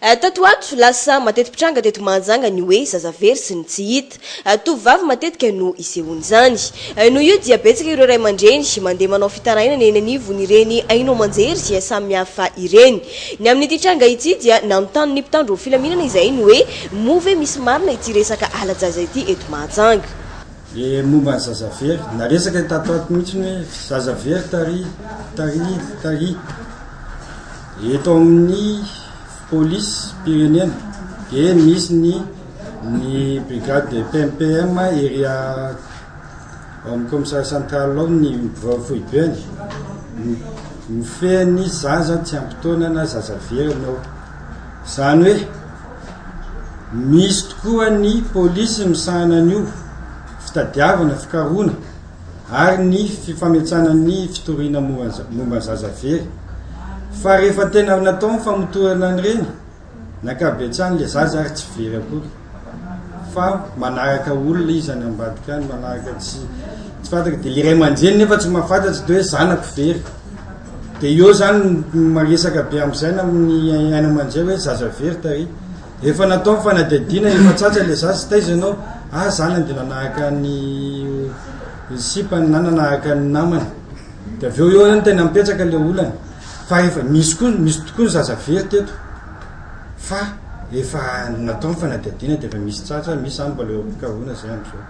Tato ho ato, lasa mateti-pitranga teto Mahajanga ny hoe zaza very sy ny tsy hita. Tovovavy matetika no isehoan'izany. Noho io dia betsaka ireo ray aman-dreny mandeha manao fitarainana eny anivon'ireny haino aman-jery samihafa ireny. Ny amin'ity tranga ity dia nanontany ny mpitandro filaminana izay ny hoe moa ve misy marina ity resaka hala-jaza ity eto Mahajanga. Le momba ny zaza very, naresaka tato ho ato mihitsy ny hoe zaza very tary, tary, tary. Eto amin'ny polisim-pirenena dia misy ny ny brigade de PMPM ery a- ao amin'ny commissariat central ao ny birao foibeny mi- mifehy ny zaza tsy ampy taona na zaza very ny ao. Izany hoe misy tokoa ny polisy misahana an'io fitadiavana, fikarohana. ary ny fifanetsana ny fitoriana momba zaza very fa rehefa tena natao ny famotorana an'ireny nakabetsany le zaza ary tsy very akory fa manaraka olona izy any ambadika any manaraka tsy tsy fantaka de le ray aman-dreny nefa tsy mahafantatry de hoe zanako very de eo zany maresaka be am'izay na amin'ny aina aman-dreny hoe zaza very tary Efa natao ny fanadihadiana efa tsatsa le za sy taiza ianao ah zanany de nanahaka ny sipany na nanahaka ny namany de avy eo eo any tena mipetsaka le olana fa efa misy koa misy tokoa ny zaza very teto fa efa natao ny fanadihadiana de efa misy tsatsa misy zany mbola eo am-pikarohana zay am'zao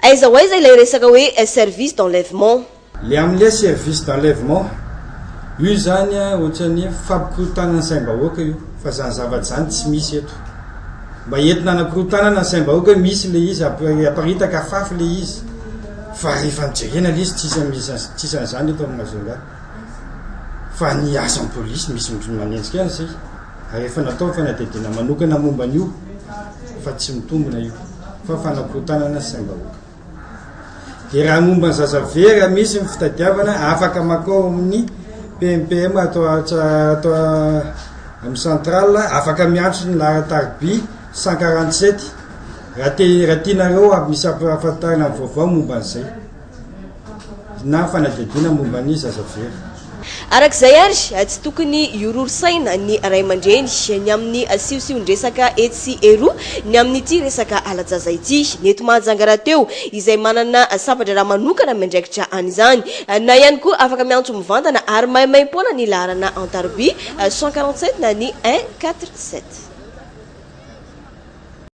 Aiza ho aiza ilay resaka hoe service d'enlèvement? Le amle service d'enlèvement io zany a otrany fampikorontanana saimbahoaka io fa zany zavatra zany tsy misy eto mba entina anakorotanana ny saimbahoaka hoe misy le izy aparitaka afafy le izy fa rehefa nijerena le izy tsisa tsisa an'izany eto amin'ny mazonga fa ny asan'ny polisy misy mitony manenjika any zay ary efa natao fanadidina manokana momba an'io fa tsy mitombina io fa fanakorotanana saimbahoaka Dia raha ny momba ny zaza very raha misy ny fitadiavana afaka makao amin'ny PMPM ato ato ato amin'ny central afaka miantso ny laharan-tariby 147 raha te raha tianareo avy misy ampahafantarana ny vaovao momba an'izay na fanadihadiana momba ny zaza very. Araka izay ary, tsy tokony hiororisaina ny ray aman-dreny ny amin'ny siosion-dresaka etsy sy eroa ny amin'ity resaka hala-jaza ity. Ny eto Mahajanga rahateo izay manana sampan-draharaha manokana miandraikitra an'izany na ihany koa afaka miantso mivantana ary maimaim-poana ny laharana an-tarobia cent quarante sept na ny un quatre sept.